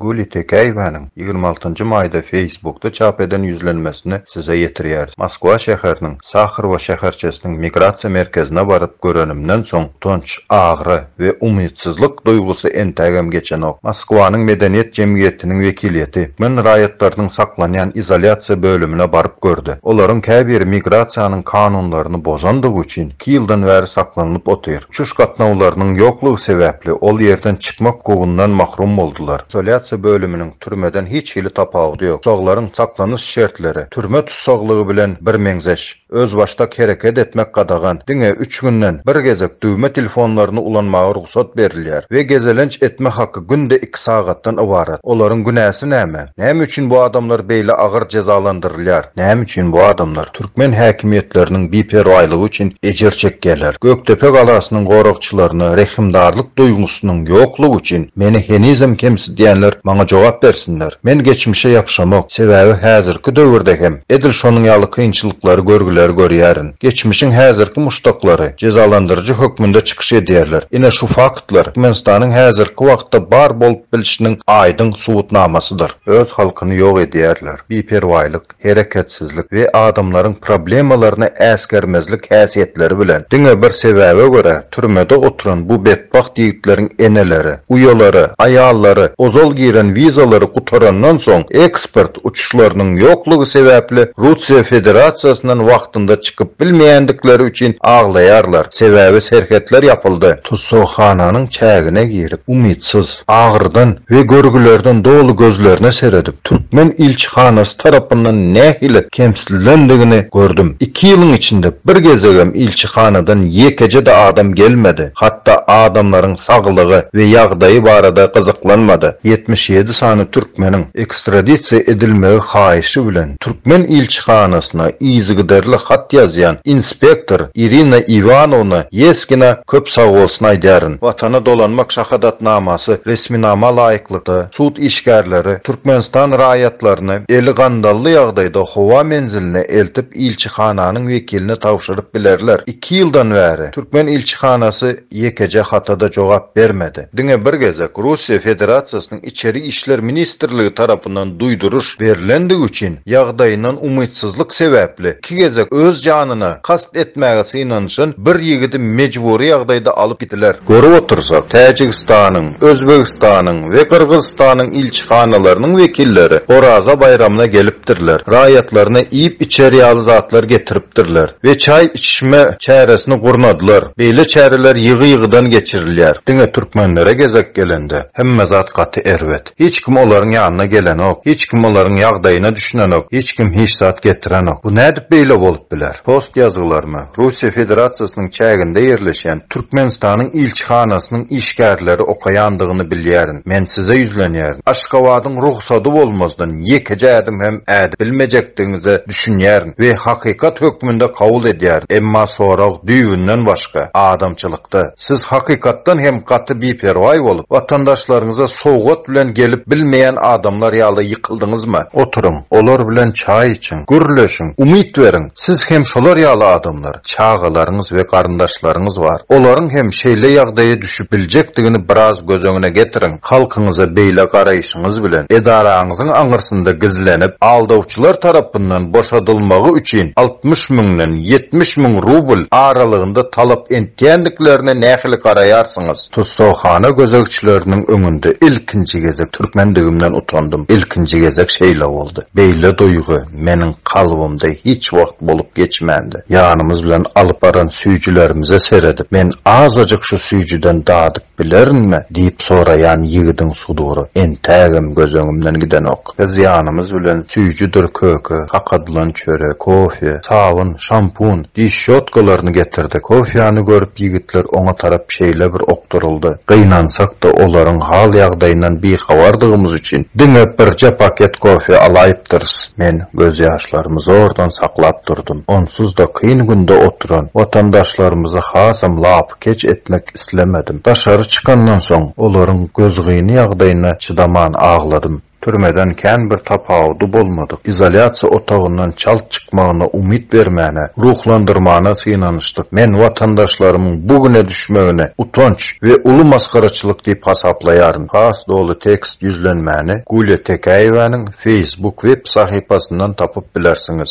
Güli Tekäýewäniň ýigrimi altynjy maýda Facebookda çap eden ýüzlenmesini size ýetirýäris. Moskwa şäheriniň Sahrowo şäherçesiniň migrasiýa merkezine baryp görenimden soň utanç, agyry, we umytsyzlyk duýgusy entägem geçenok. Moskwanyň medeniýet jemgyýetiniň wekiliýeti türkmen raýatlarynyň saklanýan izolýasiýa bölümine baryp gördi. Olaryň käbiri migrasiýanyň kanunlaryny bozandygy üçin iki ýyldan bäri saklanylyp otyr. Uçuş gatnawlarynyň ýoklugy sebäpli ol ýerden çykmak hukugyndan mahrum boldular. Izolýasiýa bölüminiň türmeden hiç hili tapawudy ýok. Tussaglaryň saklanyş şertleri türme tussaglygy bilen birmeňzeş. Özbaşdak hereket etmek gadagan, diňe üç günden bir gezek düwme telefonlaryny ulanmaga rugsat berilýär we gezelenç etme haky günde iki sagatdan ybarat. Olaryň günäsi näme? Näme üçin bu adamlar beýle agyr jezalandyrylýar? Näme üçin bu adamlar türkmen häkimiýetleriniň biperwaýlygy üçin ejir çekýärler? Gökdepe galasynyň goragçylaryna rehimdarlyk duýgusynyň ýoklugy üçin meni henizem kemsidýärler. Diýenler maňa jogap bersinler. Men geçmişe ýapyşamok, sebäbi häzirki döwürde hem edil şonuň ýaly kynçylyklary, görgüleri görýärin. Geçmişiň häzirki muşdaklary jezalandyryjy hökmünde çykyş edýärler. Ine şu faktlar Türkmenistanyň häzirki wagtda bar bolup bilşiniň aýdyň subutnamasydyr. Öz halkyny ýok edýärler. Biperwaýlyk. hereketsizlik we adamlaryň problemalaryna äsgermezlik häsiýetleri bilen, diňe bir sebäbe görä, türmede oturan bu betbagt ýigitleriň eneleri, uýalary, aýallary ozal giren wizalary gutarandan soň, eksport uçuşlarynyň ýoklugy sebäpli Russiýa Federasiýasyndan wagtynda çykyp bilmeýändikleri üçin aglaýarlar, sebäbi serhetler ýapyldy. Tussaghananyň çägine girip, umytsyz, agyrydan we görgülerden doly gözlerine seredip, türkmen ilçihanasy tarapyndan nähili kemsidilendigini gördüm. Iki ýylyň içinde bir gezegem ilçihanadan ýekeje-de adam gelmedi, hatda adamlaryň saglygy we ýagdaýy barada gyzyklanmady. Ýetmiş ýedi sany türkmeniň ekstradisiýa edilmegi haýyşy bilen, Türkmen ilçihanasyna yzygiderli hat ýazýan inspektor Irina Iwanowna Ýeskina köp sag bolsun aýdaryn. Watana dolanmak şahadatnamasy resminama laýyklykda, sud işgärleri Türkmenistan raýatlaryny eli gandally ýagdaýda howa menziline eltip ilçihananyň wekiline tabşyryp bilerler. Iki ýyldan bäri Türkmen ilçihanasy ýekeje hata-da jogap bermedi. Diňe bir gezek Russiýa Federasiýasynyň Içeri işler ministrligi tarapyndan duýduryş berlendigi üçin, ýagdaýyndan umytsyzlyk sebäpli, iki gezek öz janyna kast etmäge synanyşan bir ýigidi mejbury ýagdaýda alyp gitdiler. Görüp otursak, Täjigistanyň, Özbegistanyň we Gyrgyzystanyň ilçihanalarynyň wekilleri Oraza baýramyna gelipdirler, raýatlaryna iýip-içer ýaly zatlar getiripdirler. we çaý içişme çäresini gurnadylar. Beýle çäreler ýygy-ýygydan geçirilýär. Diňe türkmenlere gezek gelende, hemme zat gaty erbet. Hiç kim olaryň ýanyna gelenok, hiç kim olaryň ýagdaýyna düşünenok, hiç kim hiç zat getirenok. Bu nädip beýle bolup biler? Post ýazgylaryna Russiýa Federasiýasynyň çäginde ýerleşýän Türkmenistanyň ilçihanasynyň işgärleri okaýandygyny bilýärin. Men size ýüzlenýärin. Aşgabadyň rugsady bolmazdan ýekeje ädim hem ädip bilmejekdigiňize düşünýärin. we hakykat hökmünde kabul edýäris, emma sorag düýbünden başga, adamçylykda. Siz hakykatdan hem gaty biperwaý bolup, watandaşlaryňyza sowgat bilen gelip bilmeýän adamlar ýaly ýykyldyňyzmy? Oturyň, olar bilen çaý içiň, gürleşiň, umyt beriň, siz hem şolar ýaly adamlar, çagalaryňyz we garyndaşlaryňyz bar, olaryň hem şeýle ýagdaýa düşüp biljekdigini biraz göz öňüne getiriň. Halkyňyza beýle garaýşyňyz bilen edaraňyzyň aňyrsynda gizlenip, aldawçylar tarapyndan boşadylmagy üçin altmyş müňden ýetmiş müň rubl aralygynda talap entýändiklerine nähili garaýarsyňyz? Tussaghana gözegçileriniň öňünde ilkinji gezek türkmendigimden utandym. Ilkinji gezek şeýle boldy. Beýle duýgy meniň kalbymda hiç wagt bolup geçmändi. Ýanymyz bilen alyp baran süýjülerimize seredip, men azajyk şu süýjüden dadyp, Bilerinmi? diýip soraýan ýigidiň sudury entägem göz öňümden gidenok. Biz ýanymyz bilen süýjüdir köke, kakadylan çörek, kofe, sabyn, şampun, diş şotkalaryny getirdik. Kofýany görüp ýigitler oňa tarap şeýle bir okduryldy. Gynansak-da olaryň hal-ýagdaýyndan bihabardygymyz üçin diňe birje paket kofe alaýypdyrys. Men gözýaşlarymy zordan saklap durdum. Onsuz-da kyn günde oturan watandaşlarymyzy hasam lap. keç etmek islemedim. Daşary çykandan soň, olaryň gözgyny ýagdaýyna çydaman agladym. Türmeden kän bir tapawudy bolmadyk. Izolýasiýa otagyndan çalt çykmagyna umyt bermäne, ruhlandyrmana synanyşdyk. Men watandaşlarymyň bu güne düşmegini utanç we uly masgaraçylyk diýip hasaplaýaryn. Has doly tekst ýüzlenmäni Gulýa Tekäýewäniň Facebook web sahypasyndan tapyp bilersiňiz.